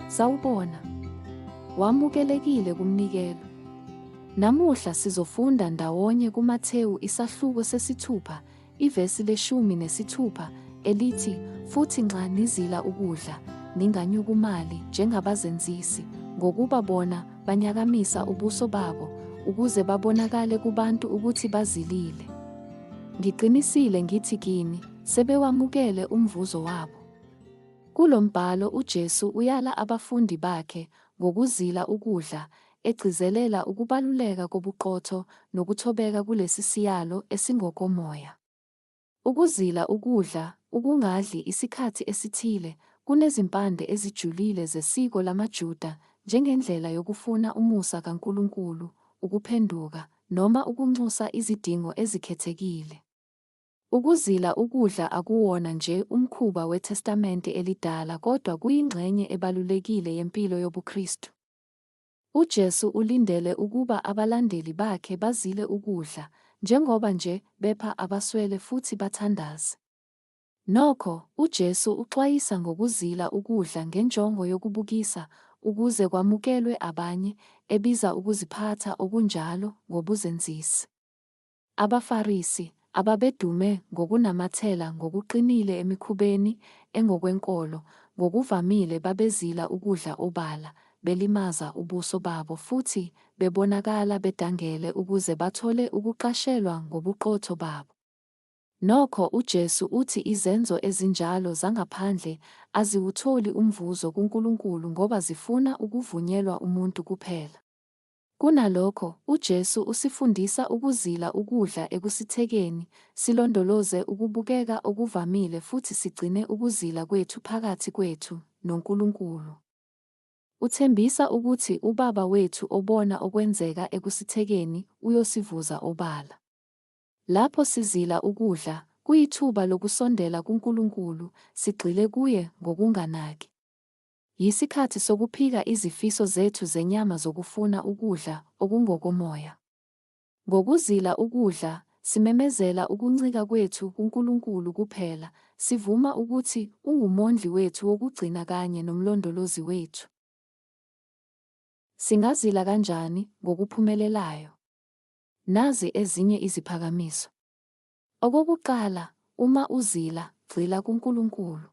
Sawubona. Wamukelekile kumnikelo. Namuhla sizofunda ndawonye kuMathewu isahluko sesithupha Ivesi leshumi nesithupha, elithi, Futhi nxa nizila ukudla, ninganyukumali njengabazenzisi, ngokuba bona banyakamisa ubuso babo, ukuze babonakale kubantu ukuthi bazilile. Ngiqinisile ngithi kini, sebewamukele umvuzo wabo. Kulo mbhalo uJesu uyala abafundi bakhe ngokuzila ukudla, egcizelela ukubaluleka kobuqotho nokuthobeka kulesi siyalo esingokomoya. Ukuzila ukudla, ukungadli isikhathi esithile, kunezimpande ezijulile zesiko lamaJuda njengendlela yokufuna umusa kaNkulunkulu, ukuphenduka, noma ukunxusa izidingo ezikhethekile. Ukuzila ukudla akuwona nje umkhuba weTestamente Elidala kodwa kuyingxenye ebalulekile yempilo yobuKristu. UJesu ulindele ukuba abalandeli bakhe bazile ukudla, njengoba nje bepha abaswele futhi bathandaze. Nokho, uJesu uxwayisa ngokuzila ukudla ngenjongo yokubukisa ukuze kwamukelwe abanye, ebiza ukuziphatha okunjalo ngobuzenzisi. AbaFarisi, ababedume ngokunamathela ngokuqinile emikhubeni engokwenkolo, ngokuvamile babezila ukudla obala, belimaza ubuso babo futhi bebonakala bedangele ukuze bathole ukuqashelwa ngobuqotho babo. Nokho, uJesu uthi izenzo ezinjalo zangaphandle aziwutholi umvuzo kuNkulunkulu ngoba zifuna ukuvunyelwa umuntu kuphela. Kunalokho, uJesu usifundisa ukuzila ukudla ekusithekeni, silondoloze ukubukeka okuvamile futhi sigcine ukuzila kwethu phakathi kwethu noNkulunkulu. Uthembisa ukuthi uBaba wethu obona okwenzeka ekusithekeni uyosivuza obala. Lapho sizila ukudla, kuyithuba lokusondela kuNkulunkulu, sigxile kuye ngokunganaki. Yisikhathi sokuphika izifiso zethu zenyama zokufuna ukudla okungokomoya. Ngokuzila ukudla, simemezela ukuncika kwethu kuNkulunkulu kuphela, sivuma ukuthi unguMondli wethu wokugcina kanye noMlondolozi wethu. Singazila kanjani ngokuphumelelayo? Nazi ezinye iziphakamiso. Okokuqala, uma uzila, gxila kuNkulunkulu.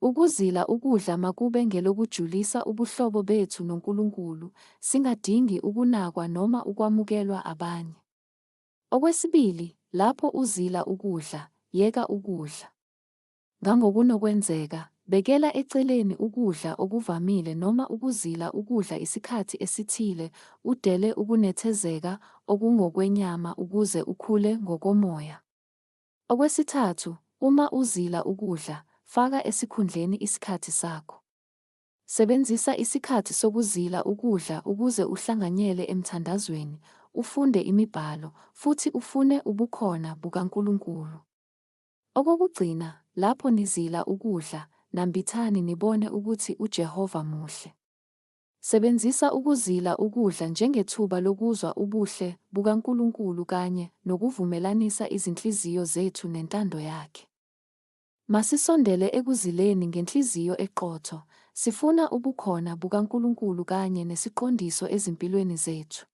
Ukuzila ukudla makube ngelokujulisa ubuhlobo bethu noNkulunkulu, singadingi ukunakwa noma ukwamukelwa abanye. Okwesibili, lapho uzila ukudla, yeka ukudla. Ngangokunokwenzeka, bekela eceleni ukudla okuvamile noma ukuzila ukudla isikhathi esithile, udele ukunethezeka okungokwenyama ukuze ukhule ngokomoya. Okwesithathu, uma uzila ukudla, faka esikhundleni isikhathi sakho. Sebenzisa isikhathi sokuzila ukudla ukuze uhlanganyele emthandazweni, ufunde imibhalo, futhi ufune ubukhona bukaNkulunkulu. Okokugcina, lapho nizila ukudla, nambithani nibone ukuthi uJehova muhle. Sebenzisa ukuzila ukudla njengethuba lokuzwa ubuhle bukaNkulunkulu kanye nokuvumelanisa izinhliziyo zethu nentando yakhe. Masisondele ekuzileni ngenhliziyo eqotho, sifuna ubukhona bukaNkulunkulu kanye nesiqondiso ezimpilweni zethu.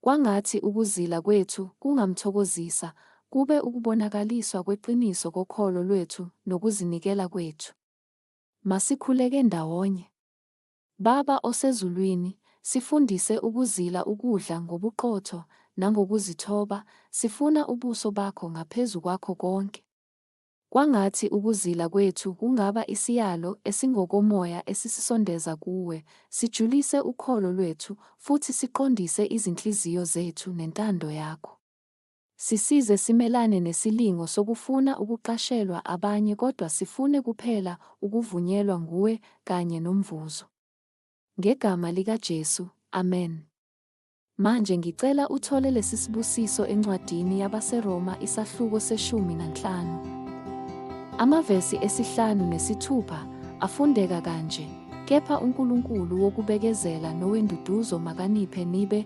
Kwangathi ukuzila kwethu kungamthokozisa, kube ukubonakaliswa kweqiniso kokholo lwethu nokuzinikela kwethu. Masikhuleke ndawonye. Baba osezulwini, sifundise ukuzila ukudla ngobuqotho nangokuzithoba, sifuna ubuso bakho ngaphezu kwakho konke. Kwangathi ukuzila kwethu kungaba isiyalo esingokomoya esisisondeza kuwe, sijulise ukholo lwethu futhi siqondise izinhliziyo zethu nentando yakho. Sisize simelane nesilingo sokufuna ukuqashelwa abanye kodwa sifune kuphela ukuvunyelwa nguwe kanye nomvuzo. Ngegama likaJesu, amen. Manje ngicela uthole lesisibusiso encwadini yabaseRoma isahluko seshumi nanhlanu. Amavesi esihlanu nesithupha afundeka kanje, Kepha uNkulunkulu wokubekezela nowenduduzo makaniphe nibe